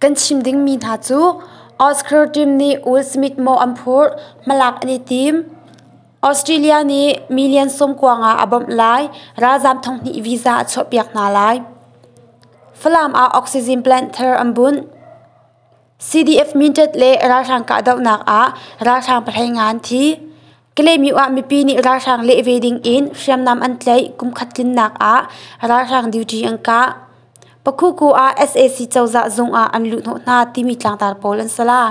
Kan chim dingmi hna cu Oscar team nih Will Smith maw an phurh, hmalak an i tim. Australia nih million sung kuang ah a bawmh lai, ralzaam thonghnih visa a chuahpiak hna lai. Falam ah oxygen plant thar an bunh. CDF mintet le ralhrang kahdohnak ah ralhrang pahlei ngan thi. Kalemi ah mipi nih ralhrang leh ve dingin hriamnam an tlaih kum khat tlinnak ah ralhrang duty an kah. Pakhuku ah sac cozah zung ah an luhhnawh hna timi tlangtar pawl an si la.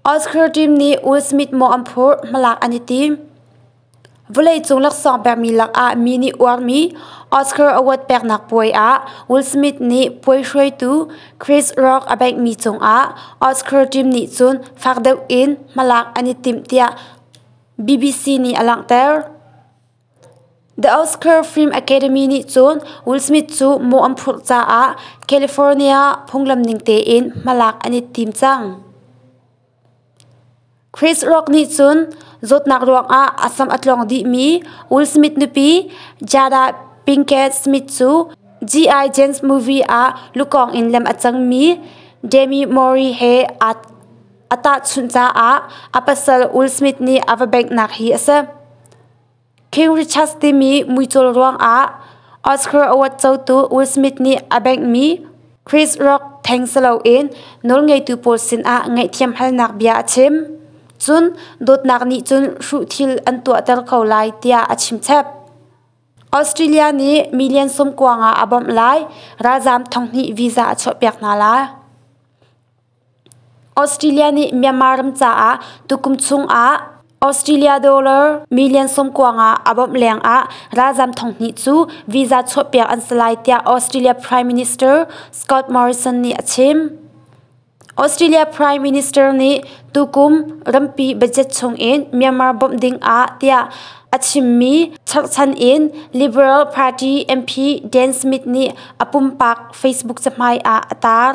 Oscar team nih Will Smith maw an phurh hmalak an i tim. Vawleicung laksawng pekmi lakah mi nih uarmi Oscar award peknak puai ah Will Smith nih puai hruaitu Chris Rock a beihmi cungah Oscar team nih cun fak deuh in hmalak an i timh tiah BBC nih a langhter. The Oscar Film Academy nih cun Will Smith cu mawh an phurh caah California phunglam ning tein hmalak an i tim cang. Chris Rock nih cun zawtnak ruangah a sam a tlawng dihmi Will Smith nupi Jada Pinkett Smith cu G.I. Jane's movie ah lukawng in lem a cangmi Demi Moore he a tahchunh caah a pasal Will Smith nih a va benghnak hi a si. King Richards timi muicawl ruangah Oscar award cotu Will Smith nih a benghmi Chris Rock theng si loin nawlngeitu pawl sinah ngaihthiam halnak bia a chim, cun dawtnak nih cun hruh thil an tuahter ko lai tiah a chimchep. Australia nih million sum kuang ah a bawmh lai ralzaam thonghnih visa a chuahpiak hna lai. Australia nih Myanmar ram caah tukum chungah Australia dollar million sawmkuang ah a bawmh lengah ralzam thonghnih cu visa chuahpiak an si lai tiah Australia Prime Minister Scott Morrison nih a chim. Australia Prime Minister nih tukum rampi budget chungin Myanmar bawmh ding ah tiah a chimmi cherhchan in Liberal Party MP Dan Smith nih a pumpak Facebook cahmai ah a tar.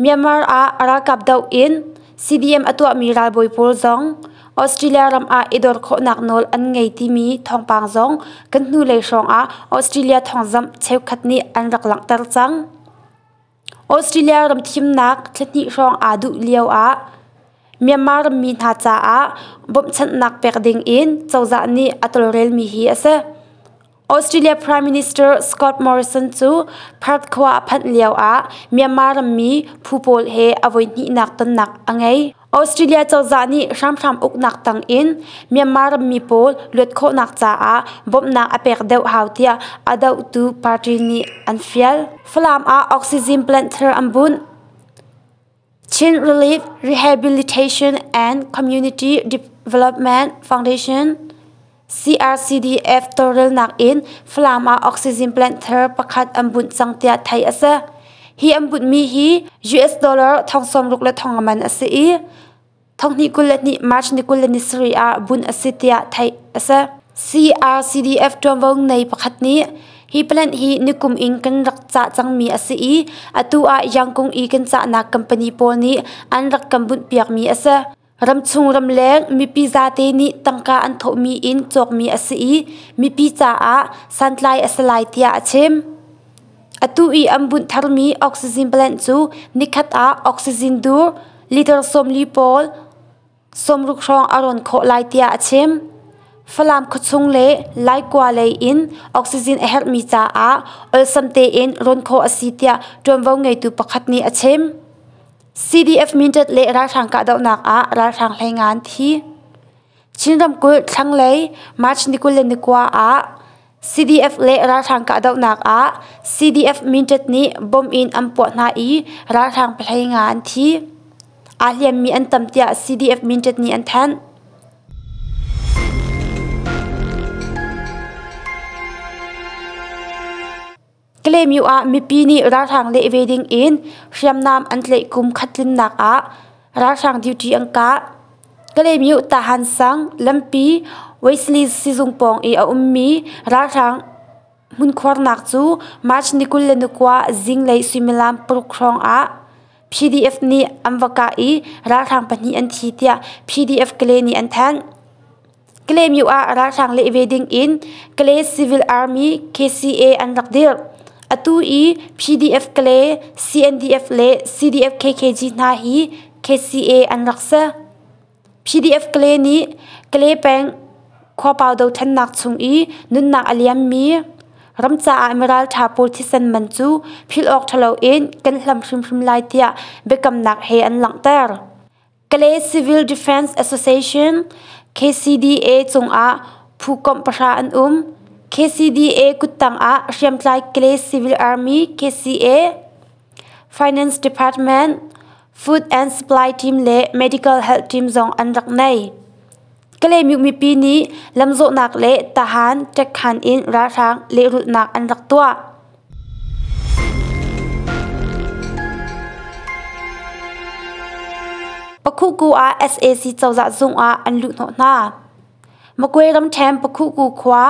Myanmar ah ralkap doh in CDM a tuahmi ralbawi pawl zong Australia ram ah i dor khawhnak nawl an ngei timi thawngpang zong kan hnulei hrawngah Australia thawngzamh cheukhat nih an rak langhter cang. Australia ram thimnak thlahnih hrawng aa duh lio ah Myanmar rammi hna caah bawmhchanhnak pek ding in cozah nih a tawlrelmi hi a si. Australia Prime Minister Scott Morrison cu Perth khua a phanh lio ah Myanmar rammi phu pawl he a voi hnihnak tonnak a ngei. Australia cozah nih hramhram uknak tang in Myanmar rammi pawl luat khawhnak caah bawmhnak a pek deuh hau tiah a dohtu party nih an fial. Falam ah oxygen plant thar an bunh. Chin Relief Rehabilitation and Community Development Foundation CRCDF tawlrelnak in Falam ah oxygen planter pakhat an bunh cang tiah theih a si. Hi an bunhmi hi US dollar thong sawmruk le thong aman a si i Thonghnih kul le hnih March ni kul le ni sarih ah bunh a si tiah theih a si. CRCDF ṭuanvo ngei pakhat nih hi plant hi nikum in kan rak cah cangmi a si i atu ah Yangkung i kan cahnak company pawl nih an rak kan bunhpiakmi a si. Ramchung ramleng mipi zate nih tangka an thawhmi in cawkmi a si i mipi caah santlai a si lai tiah a chim. Atu i an bunh tharmi oxygen plant cu nikhat ah oxygen dur liter sawmli pawl sawmruk hrawng a rawn khawh lai tiah a chim. Falam khuachung le Laikua lei in oxygen a herhmi caah olsam tein rawn khawh a si tiah ṭuanvo ngeitu pakhat nih a chim. CDF Mindat le ralhrang kahdohnak ah ralhrang hleingan thi Chin ramkulh thlanglei March ni kul le ni kua ah CDF le ralhrang kahdohnak ah CDF Mindat nih bomb in an puah hna i ralhrang pahlei nga an thi. Aa hliammi an tam tiah CDF Mindat nih an thanh. Kalaymyo ah mipi nih ralhrang leh ve ding in hriamnam an tleih kum khat tlinnak ah ralhrang duty an kah. Kalaymyo Tahansang, Lampi, Wesley sizung pawng i a ummi ralhrang hmunkhuarnak cu March ni kul le ni kua zinglei suimilam paruk hrawng ah PDF nih an va kah i ralhrang pahnih an thi tiah PDF Kale nih an thanh. Kalaymyo ah ralhrang leh ve ding in Kale Civil Army KCA an rak dirh. Atu i PDF-Kale, CNDF le CDF-KKG hna hi KCA an rak si. PDF-Kale nih Kale peng khuapau dothlennak chung i nunnak a liammi ramcaah miralṭha pawl thisen man cu philh awk ṭhalo in kan hlam hrimhrim lai tiah biakamnak he an langhter. Kalay Civil Defense Association KCDA cungah phukomh pahra an um. KCDA kuttang ah hriamtlai Kalay Civil Army KCA, Finance Department, Food and Supply Team le Medical Health Team zong an rak nei. Kalay mi mipi nih lamzawhnak le tahan, ṭekhan in ralhrang lehrulhnak an rak tuah. Pakhuku ah sac cozah zung ah an luhhnawh hna. Magway ramṭhen Pakhuku khua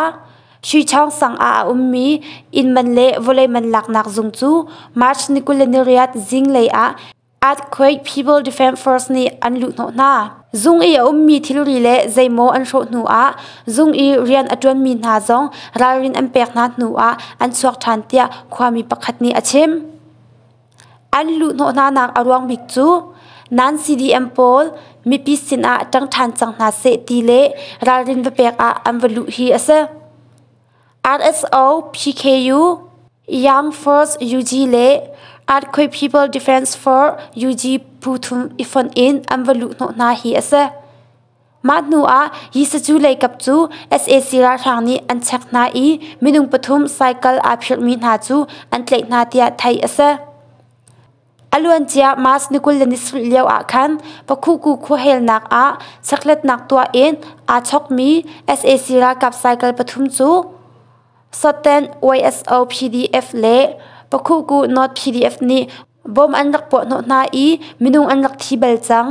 Shuichawng sang ah a ummi inn man le vawlei man laknak zung cu March ni kul le ni riat zinglei ah Earthquake People Defence Force nih an luhhnawh hna. Zung i a ummi thilri le zeimaw an hrawh hnu ah zung i rian a ṭuanmi hna zong ralrin an pek hna hnu ah an chuak ṭhan tiah khuami pakhat nih a chim. An luhhnawh hnanak a ruang bik cu nan CDM pawl mipi sinah ṭang ṭhan cang hna seh ti le ralrin va pek ah an va luh hi a si. RSO PKU, Armed Forces UG le Earthquake People Defence Force UG phu thum i fonh in an va luhhnawh hna hi a si. Mah hnu ah Yisazu leikap cu sac ralhrang nih an chek hna i minung pathum cycle aa phirhmi hna cu an tlaih hna tiah theih a si. A luancia March ni kul le ni sarih lioah khan Pakhuku khuahelnak ah checkhlatnak tuah in aa chawkmi sac ralkap cycle pathum cu Soten YSO PDF le Pakhuku North PDF nih bom an rak puah hnawh hna i minung an rak thi bal cang.